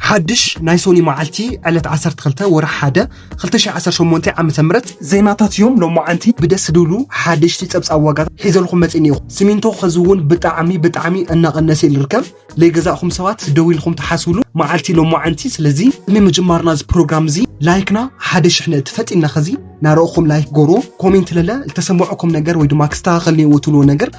ሓድሽ ናይ ሶኒ መዓልቲ ዕለት ዓሰርተ ክልተ ወርሒ ሓደ ክልተ ሽሕን ዓሰርተ ሸሞንተን ዓመተ ምህረት ዜናታት እዮም ሎማዓንቲ ብደስ ድብሉ ሓደሽቲ ፀብፃብ ዋጋታት ሒዘልኩም መፂእ እኒኦ ሲሚንቶ ከዚ እውን ብጣዕሚ ብጣዕሚ እናቀነሰ እዩ ዝርከብ ለይገዛእኹም ሰባት ደው ኢልኹም ትሓስብሉ መዓልቲ ሎማዓንቲ ስለዚ ቅድሚ ምጅማርና እዚ ፕሮግራም እዚ ላይክና ሓደ ሽሕ ነእቲ ፈጢና ከዚ ናረእኹም ላይክ ጎሮ ኮሜንት ለለ ዝተሰመዐኩም ነገር ወይ ድማ ክስተካከል እኒኦዎ ትብልዎ ነገር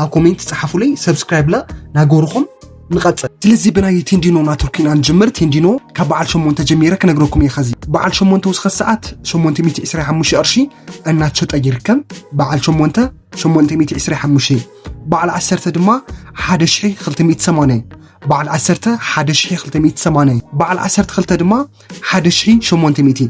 ኣብ ኮሜንት ጸሓፉለይ ሰብስክራይብና ናገርኹም ንቐጽል ስለዚ ብናይ ቴንዲኖ ናትርክ ኢና ንጅምር ቴንዲኖ ካብ በዓል ሸሞንተ ጀሚረ ክነግረኩም እየ ኸዚ በዓል ሸሞንተ ውስኸ ሰዓት 825 ቅርሺ እናተሸጠ ይርከብ በዓል ሸሞንተ 825 በዓል ዓሰርተ ድማ 1280 በዓል ዓሰርተ 1280 በዓል ዓሰርተ ክልተ ድማ 1800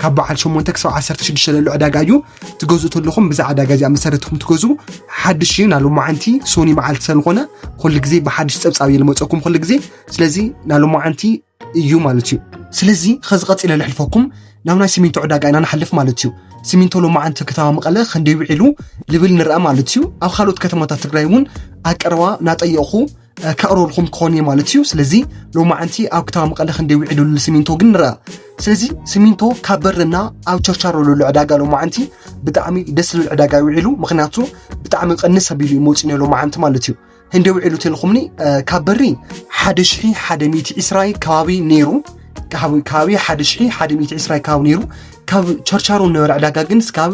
ካብ በዓል 8 ክሳብ 16 ዘሎ ዕዳጋ እዩ ትገዝኡ ተለኹም ብዛ ዕዳጋ እዚኣ መሰረትኩም ትገዝኡ ሓድሽ እዩ ናብ ሎማዓንቲ ሶኒ መዓልቲ ስለዝኾነ ኩሉ ግዜ ብሓድሽ ፀብፃብ እዩ ልመፀኩም ኩሉ ግዜ ስለዚ ናብ ሎማዓንቲ እዩ ማለት እዩ ስለዚ ከዚ ቀፂለ ልሕልፈኩም ናብ ናይ ሲሚንቶ ዕዳጋ ኢና ንሓልፍ ማለት እዩ ሲሚንቶ ሎማዓንቲ ከተማ መቐለ ክንደይ ውዒሉ ልብል ንርኣ ማለት እዩ ኣብ ካልኦት ከተማታት ትግራይ እውን ኣቀረባ ናጠየቕኹ ከቕርበልኩም ክኾን እየ ማለት እዩ ስለዚ ሎማዓንቲ ኣብ ክታባ መቐለ ክንደይ ውዒሉ ስሚንቶ ግን ንርኣ ስለዚ ስሚንቶ ካብ በርና ኣብ ቸርቻሮ ዘሎ ዕዳጋ ሎማዓንቲ ብጣዕሚ ደስ ዝብል ዕዳጋ ውዒሉ ምክንያቱ ብጣዕሚ ቅንስ ኣቢሉ እዩ መፂኡ ነሎ መዓንቲ ማለት እዩ ህንደይ ውዒሉ ተልኩምኒ ካብ በሪ ሓደ ሽሒ ሓደ ሚእቲ ዒስራይ ከባቢ ነይሩ ከባቢ ሓደ ሽሒ ሓደ ሚእቲ ዒስራይ ከባቢ ነይሩ ካብ ቸርቻሮ ነበረ ዕዳጋ ግን ስካብ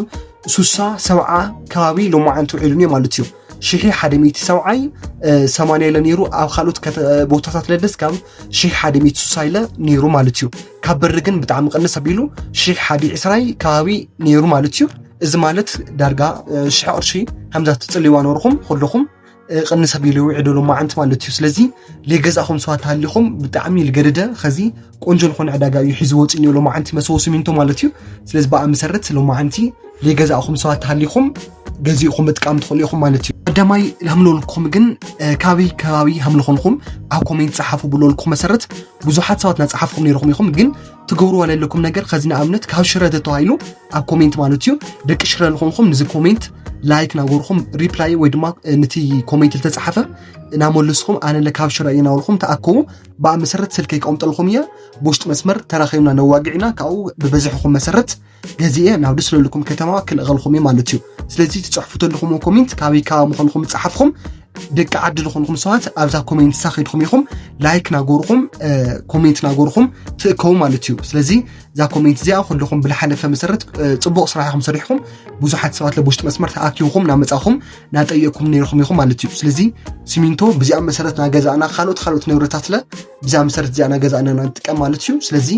ሱሳ ሰብዓ ከባቢ ሎማዓንቲ ውዒሉ እኒኦ ማለት እዩ ሽሒ ሓደ ሚእቲ ሰብዓይ ሰማንያ ኢለ ነይሩ ኣብ ካልኦት ቦታታት ለደስ ከም ሽሒ ሓደ ሚእቲ ሱሳ ኢለ ነይሩ ማለት እዩ ካብ በሪ ግን ብጣዕሚ ቅንስ ኣቢሉ ሽሒ ሓደ ዕስራይ ከባቢ ነይሩ ማለት እዩ እዚ ማለት ዳርጋ ሽሒ ቅርሺ ከምዛ ትፅልዋ ነርኹም ኩልኹም ቅንስ ኣቢሉ ይውዕደሉ መዓንቲ ማለት እዩ ስለዚ ለይገዛእኹም ስዋ ተሃሊኹም ብጣዕሚ ልገደደ ከዚ ቆንጆ ዝኾነ ዕዳጋ እዩ ሒዙ ወፂኡ እኒኦ ሎማዓንቲ መሰቦ ሲሚንቶ ማለት እዩ ስለዚ ብኣ መሰረት ሎማዓንቲ ዘይገዛእኹም ሰባት ተሃሊኹም ገዚእኹም ምጥቃም ትኽእሉ ኢኹም ማለት እዩ ቀዳማይ ሃምለወልኩም ግን ካበይ ከባቢ ሃምልኾንኩም ኣብ ኮሜንት ፀሓፉ ብለወልኩም መሰረት ብዙሓት ሰባት ናፀሓፍኩም ነይርኹም ኢኹም ግን ትገብርዎ ዘለኩም ነገር ከዚ ንኣብነት ካብ ሽረ ተተባሂሉ ኣብ ኮሜንት ማለት እዩ ደቂ ሽረ ዝኾንኩም ንዚ ኮሜንት ላይክ ናገርኹም ሪፕላይ ወይ ድማ ነቲ ኮሜንት ዝተፀሓፈ እናመለስኩም ኣነለ ካብ ሽረ እየ ናበልኩም ተኣከቡ ብኣመሰረት ስልከይ ከቐምጠልኹም እየ ብውሽጢ መስመር ተራኺብና ነዋግዕ ኢና ካብኡ ብበዝሕኹም መሰረት ገዚኤ ናብ ደስ ለልኩም ከተማ ክልእኸልኹም እየ ማለት እዩ ስለዚ ትፅሕፉ ተለኹም ኮሜንት ካበይ ካባ ምዃንኹም ፀሓፍኹም ደቂ ዓዲ ዝኾንኹም ሰባት ኣብዛ ኮሜንት ሳኺድኩም ኢኹም ላይክ ናጎርኹም ኮሜንት ናጎርኹም ትእከቡ ማለት እዩ ስለዚ እዛ ኮሜንት እዚኣ ኩልኹም ብልሓለፈ መሰረት ፅቡቕ ስራሕ ኢኹም ሰሪሕኹም ብዙሓት ሰባት ለብውሽጢ መስመር ተኣኪብኹም ናመፃኹም ናጠየኩም ነይርኩም ኢኹም ማለት እዩ ስለዚ ሲሚንቶ ብዚኣ መሰረት ናገዛእና ካልኦት ካልኦት ንብረታትለ ብዛ መሰረት እዚኣ ናገዛእና ንጥቀም ማለት እዩ ስለዚ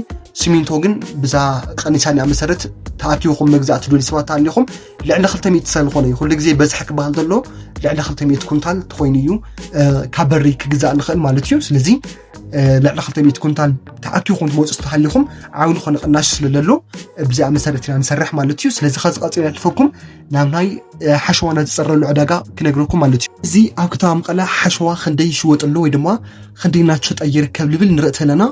ሲሚንቶ ግን ብዛ ቀኒሳኒያ መሰረት ተኣኪብኩም መግዛእ ትደልዩ ሰባት ኣለኹም ልዕሊ 200 ሰልኾነ እዩ ኩሉ ግዜ በዝሒ ክበሃል ዘሎ ልዕሊ 200 ኩንታል ተኮይኑ እዩ ካብ በሪ ክግዛእ ንኽእል ማለት እዩ ስለዚ ልዕሊ 200 ኩንታል ተኣኪብኩም ትመፁ ዝተሃሊኹም ዓብሉ ኮነ ቅናሽ ስለዘሎ ብዚኣ መሰረት ኢና ንሰርሕ ማለት እዩ ስለዚ ከዚ ቀፂሉ ያልፈኩም ናብ ናይ ሓሸዋና ዝፀረሉ ዕዳጋ ክነግረኩም ማለት እዩ እዚ ኣብ ከተማ መቐለ ሓሸዋ ክንደይ ይሽወጥ ኣሎ ወይ ድማ ክንደይ እናተሸጠ ይርከብ ልብል ንርኢ ተለና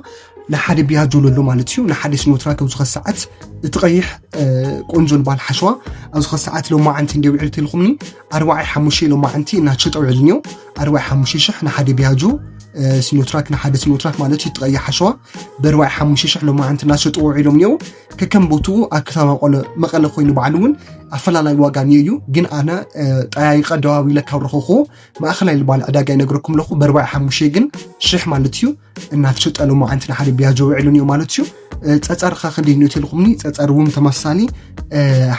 ንሓደ ቢያጆ ኣሎ ማለት እዩ ንሓደ ስኖትራ ከም ዝኾነ ሰዓት እቲ ቀይሕ ቆንጆ ዝበሃል ሓሸዋ ኣብ ዝኾነ ሰዓት ሎማዓንቲ እንዲ ውዕል ተልኩምኒ ኣርባዓይ ሓሙሽተ ሎማዓንቲ እናተሸጠ ውዕል እኒኦ ኣርባዓይ ሓሙሽተ ሽሕ ንሓደ ቢያጆ ስኖትራክ ንሓደ ስኖትራክ ማለት እዩ እቲ ቀይሕ ሓሸዋ ብኣርባዓይ ሓሙሽተ ሽሕ ሎማዓንቲ እናተሸጥዎ ውዒሎም እኒኦ ከከም ቦትኡ ኣብ ከተማ መቐለ መቐለ ኮይኑ ባዕሉ እውን ኣፈላላይ ዋጋ እኒኦ እዩ ግን ኣነ ጠያይቀ ደዋብ ኢለ ካብ ረኸኹ ማእኸላይ ልባል ዕዳጋ ይነግረኩም ኣለኹ በርባዕ ሓሙሽተ ግን ሽሕ ማለት እዩ እናተሸጠ ሎማ ዓንቲ ንሓደ ቢያጆ ውዕሉ እኒኦ ማለት እዩ ፀፀር ኸ ክንደይ እኒኦ ተልኹምኒ ፀፀር እውን ተመሳሳሊ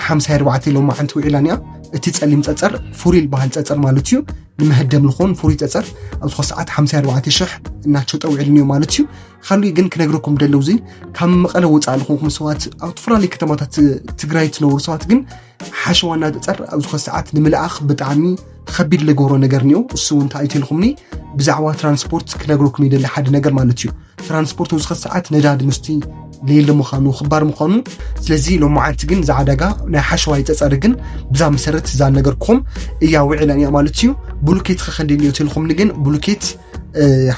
ሓምሳ ኣርባዕተ ሎማ ዓንቲ ውዒላ እኒኣ እቲ ፀሊም ፀፀር ፍሩይ ዝበሃል ፀፀር ማለት እዩ ንመህደም ዝኾን ፍሩይ ፀፀር ኣብ ዝኾ ሰዓት ሓምሳ ኣርባዕተ ሽሕ እናተሸጠ ውዕሉ እኒኦ ማለት እዩ ካሊእ ግን ክነግረኩም ደለው እዚ ካብ መቐለ ወፃእ ዝኾንኩም ሰባት ኣብ ዝተፈላለዩ ከተማታት ትግራይ ትነብሩ ሰባት ግን ሓሸዋ እናተፀር ኣብ ዝኾነ ሰዓት ንምልኣኽ ብጣዕሚ ከቢድ ዝገብሮ ነገር እኒኦ እሱ እውን እንታይ ኣይትልኩምኒ ብዛዕባ ትራንስፖርት ክነግረኩም ይደሊ ሓደ ነገር ማለት እዩ ትራንስፖርት ኣብ ዝኾነ ሰዓት ነዳዲ ምስቲ ሌለ ምዃኑ ክባር ምዃኑ ስለዚ ሎማዓንቲ ግን እዛ ዕዳጋ ናይ ሓሸዋ ይፀፀሪ ግን ብዛ መሰረት እዛ ነገርኩም እያ ውዒላ እያ ማለት እዩ ብሉኬት ከከንዲ እኒኦ ትልኩምኒ ግን ብሉኬት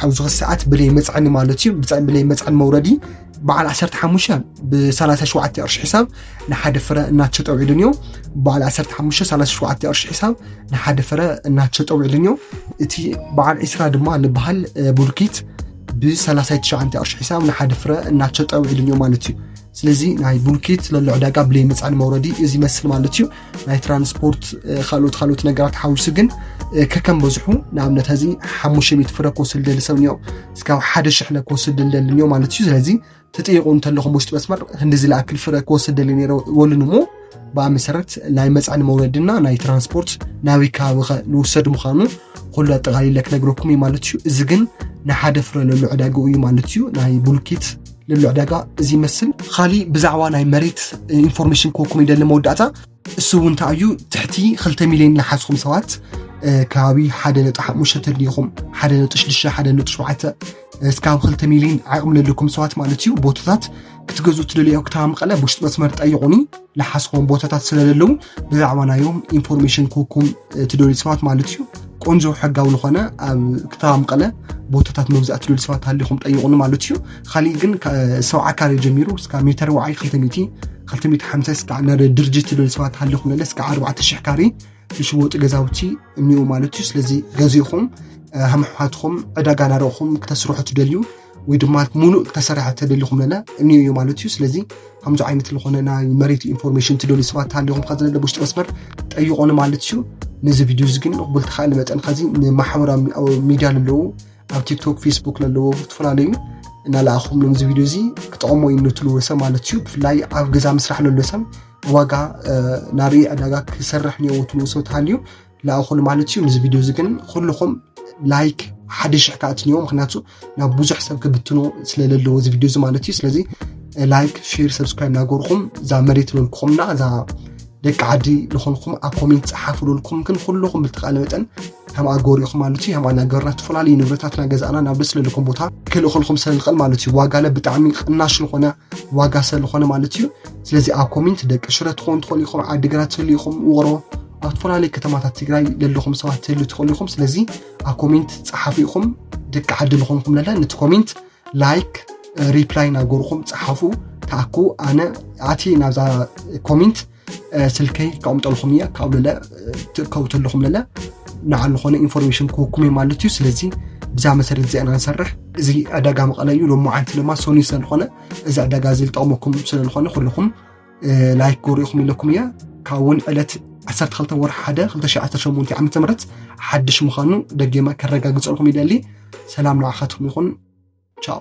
ሓውዚ ሰዓት ብለይ መፅዕኒ ማለት እዩ ብለይ መፅዕኒ መውረዲ በዓል 15 ብ37 ቅርሺ ሒሳብ ንሓደ ፍረ እናተሸጠ ውዒሉን እዩ በዓል 15 37 ቅርሺ ሒሳብ ንሓደ ፍረ እናተሸጠ ውዒሉን እዩ እቲ በዓል 20 ድማ ንበሃል ቡልኪት ብ39 ቅርሺ ሒሳብ ንሓደ ፍረ እናተሸጠ ውዒሉን እዩ ማለት እዩ ስለዚ ናይ ቡልኪት ለሎ ዕዳጋ ብለይ መፅዕኒ መውረዲ እዚ ይመስል ማለት እዩ ናይ ትራንስፖርት ካልኦት ካልኦት ነገራት ሓዊሱ ግን ከከም በዝሑ ንኣብነት እዚ ሓሙሽተ ሚእቲ ፍረ ክወስድ ደሊ ሰብ እኒኦ እስካብ ሓደ ሽሕ ለ ክወስድ ደሊ እኒኦ ማለት እዩ ስለዚ ትጥይቁ እንተለኹም ውሽጢ መስመር ህንዲ ዝለኣክል ፍረ ክወስድ ደሊ ነረ ወልን እሞ ብኣ መሰረት ናይ መፅዕኒ መውረድና ናይ ትራንስፖርት ናበይ ከባቢ ኸ ንውሰድ ምዃኑ ኩሉ ኣጠቃሊለ ክነግረኩም እዩ ማለት እዩ እዚ ግን ንሓደ ፍረ ለሉ ዕዳግኡ እዩ ማለት እዩ ናይ ቡልኪት ልዕሉ ዕዳጋ እዚ ይመስል ካሊእ ብዛዕባ ናይ መሬት ኢንፎርሜሽን ክወኩም ይደሊ መወዳእታ እሱ እውን እንታይ እዩ ትሕቲ 2 ሚሊዮን ዝሓዝኹም ሰባት ከባቢ ሓደ ነጥቢ ሓሙሽተ ተድልይኹም ሓደ ነጥቢ ሽዱሽተ ሓደ ነጥቢ ሸውዓተ እስካብ 2 ሚሊዮን ዓቕሚ ዘለኩም ሰባት ማለት እዩ ቦታታት ክትገዝኡ ትደልዩ ኣብ ከተማ መቐለ ብውሽጢ መስመር ጠይቑኒ ዝሓዝኹም ቦታታት ስለዘለዉ ብዛዕባ ናዮም ኢንፎርሜሽን ክወኩም እቲ ዶሊት ሰባት ማለት እዩ ቆንጆ ሕጋዊ ዝኾነ ኣብ ከተማ መቐለ ቦታታት መብዛእቲ ዶሊት ሰባት ሃሊኹም ጠይቑኒ ማለት እዩ ካሊእ ግን ሰብዓ ካሬ ጀሚሩ እስካ ሜተር ዋዓይ ክልተ ሚእቲ ክልተ ሚእቲ ሓምሳ እስካ ናብ ድርጅት ዶሊት ሰባት ሃሊኹም ነለ እስካ ኣርባዕተ ሽሕ ካሬ ዝሽወጡ ገዛውቲ እኒኡ ማለት እዩ ስለዚ ገዚእኹም ሃምሕዋትኹም ዕዳጋ ናረኹም ክተስርሑ ትደልዩ ወይ ድማ ሙሉእ ክተሰርሐ ተደሊኹም ለለ እኒ እዩ ማለት እዩ ስለዚ ከምዚ ዓይነት ዝኾነ ናይ መሬት ኢንፎርሜሽን ትደልዩ ሰባት ሃሊኹም ከዚ ለለ ውሽጢ መስመር ጠይቆኒ ማለት እዩ ነዚ ቪድዮ እዚ ግን ቅቡል ተኻእለ መጠን ከዚ ንማሕበራዊ ሚድያ ለለዉ ኣብ ቲክቶክ ፌስቡክ ለለዎ ዝተፈላለዩ እናለኣኹም ነዚ ቪድዮ እዚ ክጠቕሞ እዩ ንትልዎ ሰብ ማለት እዩ ብፍላይ ኣብ ገዛ ምስራሕ ለሎ ሰብ ዋጋ ናርኢ ዕዳጋ ክሰርሕ እኒዎ ትልዎ ሰብ ተሃልዩ ለኣኹሉ ማለት እዩ ንዚ ቪድዮ እዚ ግን ኩልኹም ላይክ ሓደ ሽሕ ከዓ ትንዮ ምክንያቱ ናብ ብዙሕ ሰብ ክብትኖ ስለለለዎ እዚ ቪድዮ እዚ ማለት እዩ ስለዚ ላይክ ሼር ሰብስክራይብ ናገርኩም እዛ መሬት ለልኩኹምና እዛ ደቂ ዓዲ ዝኾንኩም ኣብ ኮሜንት ፀሓፉ ለልኩም ግን ኩልኹም ብልተቃለ መጠን ከም ኣገሩ ኢኹም ማለት እዩ ከም ኣናገርና ዝተፈላለዩ ንብረታትና ገዛእና ናብ ደስ ለልኩም ቦታ ክልእኸልኩም ስለንኽእል ማለት እዩ ዋጋለ ብጣዕሚ ቅናሽ ዝኾነ ዋጋ ስለዝኾነ ማለት እዩ ስለዚ ኣብ ኮሜንት ደቂ ሽረ ትኾኑ ትኾኑ ኢኹም ዓዲግራት ትህሉ ኢኹም ውቕሮ ኣብ ዝተፈላለዩ ከተማታት ትግራይ ዘለኹም ሰባት ትህሉ ትኽእሉ ኢኹም ስለዚ ኣብ ኮሜንት ፀሓፉ ኢኹም ደቂ ዓዲ ዝኾንኩም ለለ ነቲ ኮሜንት ላይክ ሪፕላይ ናገርኹም ፀሓፉ ተኣኩ ኣነ ኣቲ ናብዛ ኮሜንት ስልከይ ከቕምጠልኩም እየ ካብኡ ለለ ትእከቡ ተለኹም ለለ ንዓሉ ኾነ ኢንፎርሜሽን ክህኩም እዩ ማለት እዩ ስለዚ ብዛ መሰረት እዚኣ ኢና ንሰርሕ እዚ ዕዳጋ መቐለ እዩ ሎሚ ዓንቲ ድማ ሰኑይ ስለዝኾነ እዚ ዕዳጋ እዚ ዝጠቕመኩም ስለዝኾነ ኩልኹም ላይክ ጎሪኹም ኢለኩም እያ ካብ እውን ዕለት 12 ወርሒ 1 2018 ዓ ም ሓድሽ ምዃኑ ደጌማ ከረጋግፀልኩም ይደሊ ሰላም ንዓኻትኩም ይኹን ቻው